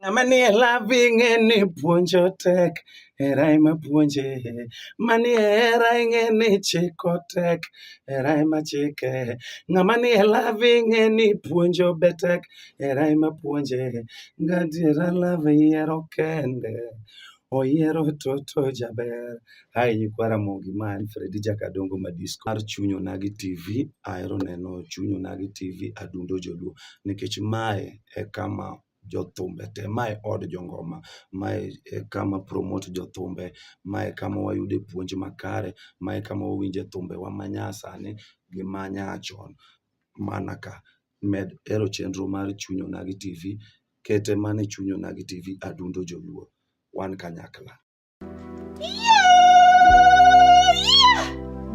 Ng'ama nie lavi ing'e ni puonjo tek, hera ema puonje. Manie hera ing'e ni chiko tek, hera ema chike. Ng'ama nie lavi ing'e ni puonjo be tek, hera ema puonje. Gadiera love yiero kende. Oyiero toto jaber. Hi nyikwa Ramogi ma en Fredi Jakadongo ma disco mar Chuny Onagi TV. Ahero neno Chuny Onagi TV adundo joluo nikech mae e kama jothumbe te, mae od jongoma, mae e kama promote jothumbe, mae e kama wayude puonj makare, mae e kama wawinje thumbewa manyasani gi manyachon mana ka. med hero chenro mar chuny onagi tv kete mane chuny onagi tv adundo joluo wan kanyakla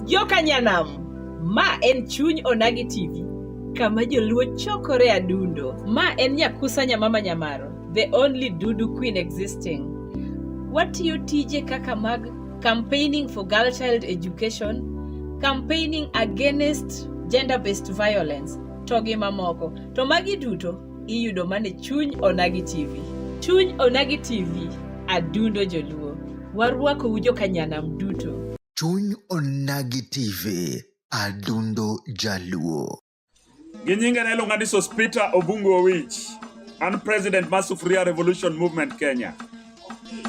jokanyanam ma en chuny onagi tv kama joluo chokore adundo ma en nyakusa nyamama nyamaro the only dudu queen existing watiyo tije kaka mag campaigning for girl child education, campaigning against gender based violence to gi mamoko. To magi duto iyudo mane chuny onagi TV. Chuny onagi TV adundo joluo. Warwako ujo kanyanam duto. Chuny onagi TV adundo jaluo. Gi nyinge ne iluonga ni Sospita Obungu Owich. An president mar Sufuria Revolution Movement Kenya.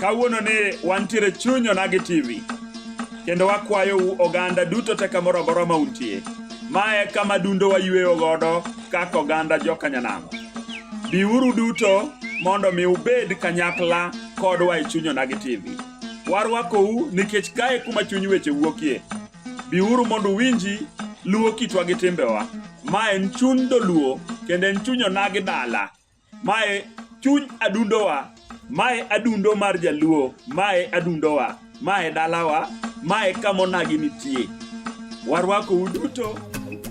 Kawuono ni wantiere chunyo na gi TV. Kendo wakwayo u oganda duto te kamoro amora ma untie. Mae kama dundo wayueyo godo kaka oganda jokanyanamo. Biuru duto mondo mi ubed kanyakla kodwa e chunyo na gi TV. Warwakou nikech kae kuma chuny weche wuokie. Biuru mondo uwinji luwo kitwa gi timbewa. Ma en chuny doluo kendo en chuny onagi dala. Mae chuny adundowa. Mae adundo mar jaluo. Mae adundowa. Mae dalawa. Mae kama onagi nitie. Warwakou duto.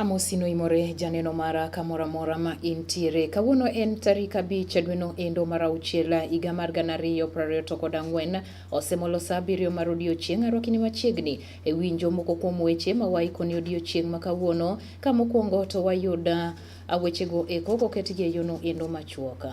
Amosi noimore janeno mara kamoro amora ma intiere. Kawuono en tarik abich dweno endo mar auchiel higa mar gana ariyo piero ariyo to kod ang'wen. Osemolo saa abiriyo mar odiechieng' arwakini machiegni e winjo moko kuom weche ma waikoni odiechieng' ma kawuono. Ka mokwongo to wayud uh, wechego eko koketgi e yono endo machuoka.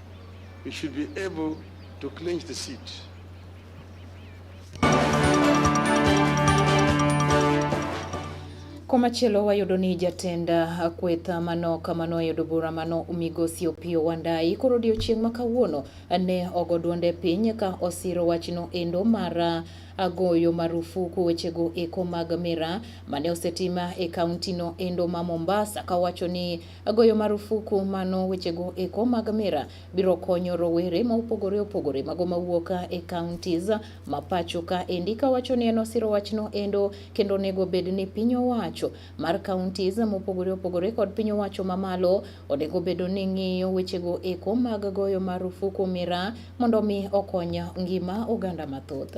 You should be able to clinch the seat. Komachielo wayudo ni jatend uh, kweth uh, mano kamano ayudo bura mano migosi Opiyo Wandayi koro odiochieng' ma kawuono uh, ne ogo duonde piny ka osiro wachno endo mar agoyo marufuku wechego eko mag mira mane osetima e kaunti no endo ma Mombasa kawacho ni Goyo marufuku mano wechego eko mag mira biro konyo rowere ma opogore opogore mago mawuok e counties ma pacho ka endi kawacho ni en osiro wachno endo kendo onego bed ni piny owacho mar counties mopogore opogore kod piny owacho mamalo onego bedo ni ng'iyo wechego eko mag goyo marufuku mira mondo mi okony ngima oganda mathoth.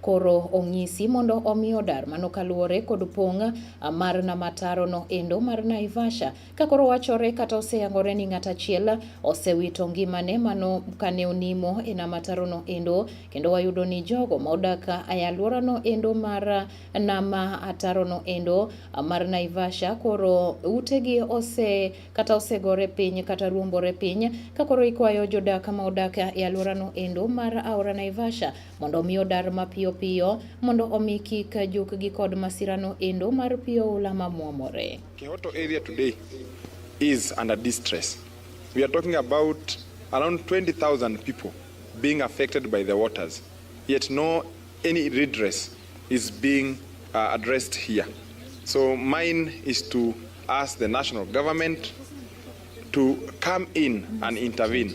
Koro ong'isi mondo omi odar mano kaluwore kod pong' mar nama taro no endo mar Naivasha. Ka koro wachore kata oseyangore ni ng'at achiel osewito ngimane mano kane onimo e nama taro no endo kendo wayudo ni jogo ma odak e aluora no endo mar nama ataro no endo mar Naivasha koro utegi ose kata osegore piny kata ruombore piny ka koro ikwayo jodak ma odak e aluora no endo mar aora Naivasha mondo omi odar mapiyo piyo mondo omi kik jukgi kod masirano endo mar pi oula mamwomore. Kehoto area today is under distress. We are talking about around 20,000 people being affected by the waters, yet no any redress is being uh, addressed here. So mine is to ask the national government to come in and intervene.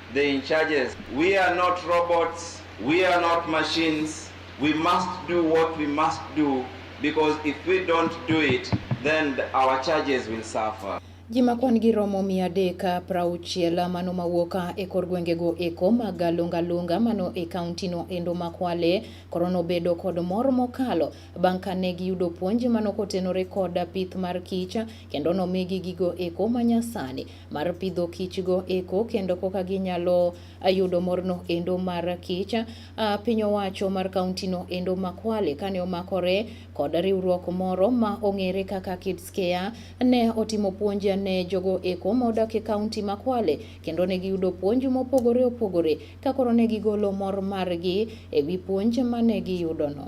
the in charges. We are not robots, we are not machines. We must do what we must do because if we don't do it, then our charges will suffer. Ji ma kwan-gi romo mia adek prauchiel mano mawuok e kor gwengego eko mag lungalunga mano e kauntino endo ma Kwale koro nobedo kod mor mokalo bang' kane giyudo puonj mano kotenore kod pith mar kich kendo nomigi gigo eko manyasani mar pidho kichgo eko kendo koka ginyalo yudo morno endo mar kich. Piny owacho mar kauntino endo ma Kwale kane omakore kod riwruok moro ma ong'ere kaka Kids Care ne otimo puonj ne jogo eko ma odak e kaunti ma Kwale kendo ne giyudo puonj mopogore opogore ka koro ne gigolo mor margi e wi puonj ma ne giyudono.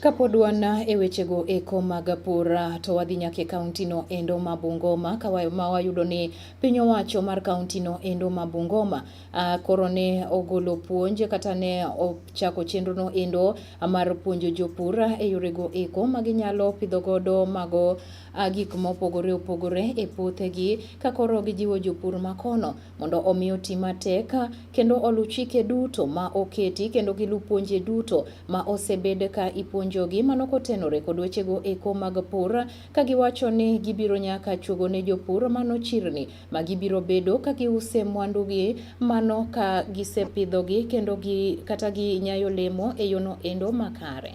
Kapod wan e wechego eko mag pur to wadhi nyaka e kauntino endo ma Bungoma ma wayudo ni piny owacho mar kauntino endo ma Bungoma koro ne ogolo puonj kata ne ochako chenrono endo mar puonjo jopur e yorego eko ma ginyalo pidho godo mago gik mopogore opogore e puothegi ka koro gijiwo jopur makono mondo omi oti matek kendo oluw chike duto ma oketi kendo giluw puonje duto ma osebed ka ipuonjogi mano kotenore kod wechego eko mag pur ka giwacho ni gibiro nyaka chuogo ne jopur mano chirni ma gibiro bedo ka giuse mwandugi mano ka gisepidhogi kendo gi kata ginyayo lemo e yono endo makare.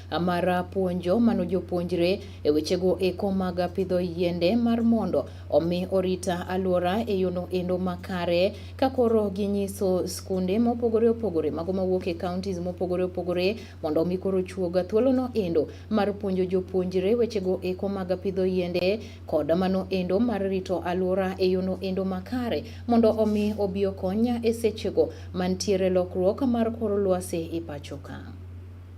mar puonjo mano jopuonjre e wechego eko mag pidho yiende mar mondo omi orita alwora e yono endo makare ka koro ginyiso skunde mopogore opogore mago mawuok e counties mopogore opogore mondo omi koro chuoga thuolono endo mar puonjo jopuonjre wechego eko mag pidho yiende kod mano endo mar rito alwora e yono endo makare mondo omi obi okonya e sechego mantiere lokruok mar kor lwasi e pachoka.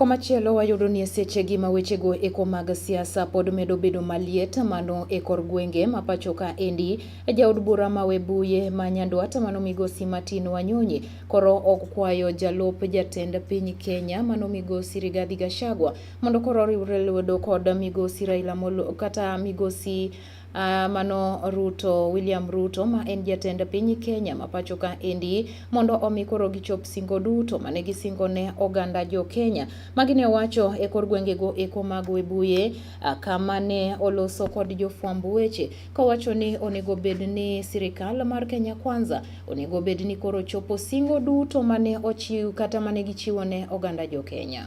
Komachielo wayudo ni esechegi ma wechego eko mag siasa pod medo bedo maliet mano e kor gwenge ma pacho ka endi. Jaod bura ma Webuye ma Nyandwat mano migosi Martin Wanyonyi koro ok kwayo jalup jatend piny Kenya mano migosi Rigathi Gachagua mondo koro oriwre lwedo kod migosi Raila Molo kata migosi Uh, mano Ruto William Ruto ma en jatend piny Kenya ma pacho ka endi mondo omi koro gichop singo duto mane gisingo ne oganda jo Kenya magine wacho e kor gwengego eko mag Webuye uh, kama ne oloso kod jofwamb weche kowacho ni onego bed ni sirikal mar Kenya Kwanza onego bed ni koro chopo singo duto mane ochiw kata mane gichiwo ne oganda jo Kenya.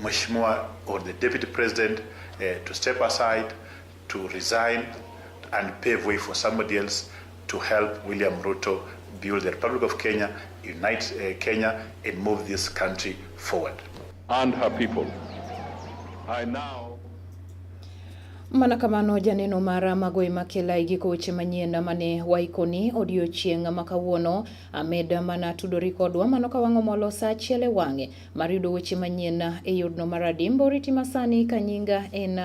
Mheshimiwa or the deputy president uh, to step aside to resign and pave way for somebody else to help William Ruto build the Republic of Kenya, unite uh, Kenya and move this country forward. And her people. I now Mana kamano janeno mara magoe makela igiko weche manyien mane waikoni odiochieng' ma kawuono amed mana tudori kodwa mano ka wang'o molo sa achiel e wang'e Mar yudo weche manyien e yorno mar adimbo, riti masani ka nyinga en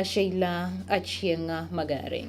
Sheila Achieng'a Magare.